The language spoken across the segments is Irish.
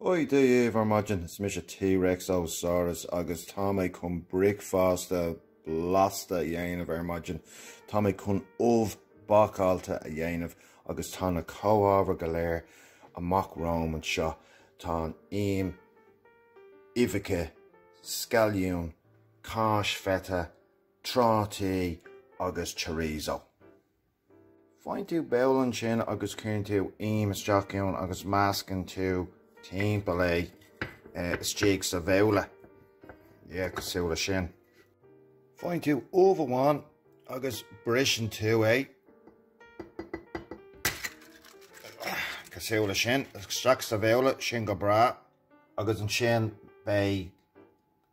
Ó Dia daoibh ar maidin, is mise T-Rex Ó Saurus agus tá mé chun bricfeasta blasta a dhéanamh ar maidin. Tá mé chun ubh bhácáilte a dhéanamh agus tá na comhábhair go léir amach romham anseo, tá an im, uibheacha, scailliún, cáis feta, trátaí agus chorizo. Faigheann tú babhla ansin agus cuireann tú im isteach ann agus meascann tú timpeall é istigh sa bhabhla. Yeah, cosúil le sin. Faigheann tú ubh amháin agus briseann tú é. Cosúil le sin, isteach sa bhabhla, sin go breá. Agus ansin beidh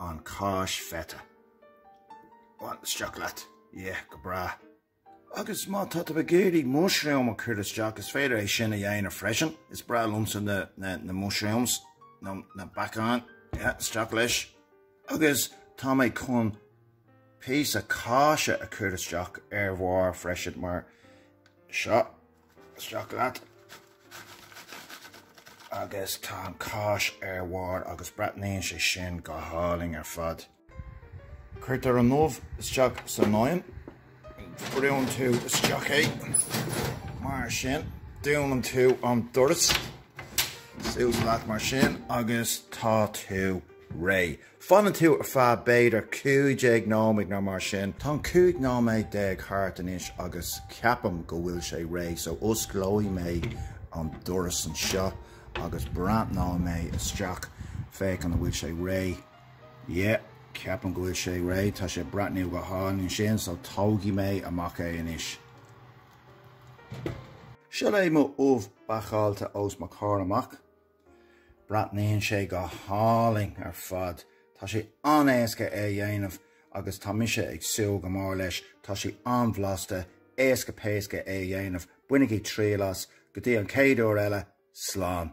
an cáis feta. Isteach leat. Yeah, go breá. Agus má tá tú ag iarraidh mushroom a chur isteach, is féidir é sin a dhéanamh freisin. Is breá liomsa na mushrooms, nó na beacáin. Yeah, isteach leis. Agus tá mé chun píosa cáise a chur isteach ar bharr freisin, mar seo Isteach leat agus tá an cáis ar bharr agus breathnaíonn sé sin go hálainn ar fad. Cuirtear an ubh isteach san oigheann, brúnn tú isteach é mar sin, dúnann tú an doras, suas leat mar sin agus tá tú réidh. Fanann tú ar feadh b'fhéidir 15 nóiméad nó mar sin. Tá an 15 nóiméad thart anois agus ceapaim go bhfuil sé réidh so osclóidh mé an doras anseo agus breathnóidh mé isteach, féachaint an bhfuil sé réidh. Yeah, ceapaim go bhfuil sé réidh, tá sé ag breathnú go hálainn ansin so tógfaidh mé amach é anois. Seo é mo ubh bhácáilte os mo chomhair amach. Breathnaíonn sé go hálainn ar fad. Tá sé an-éasca é a dhéanamh agus tá mise ag súil go mór leis. Tá sé an-bhlasta, éasca péasca é a dhéanamh, bainigí triail as, go dtí an chéad uair eile, slán!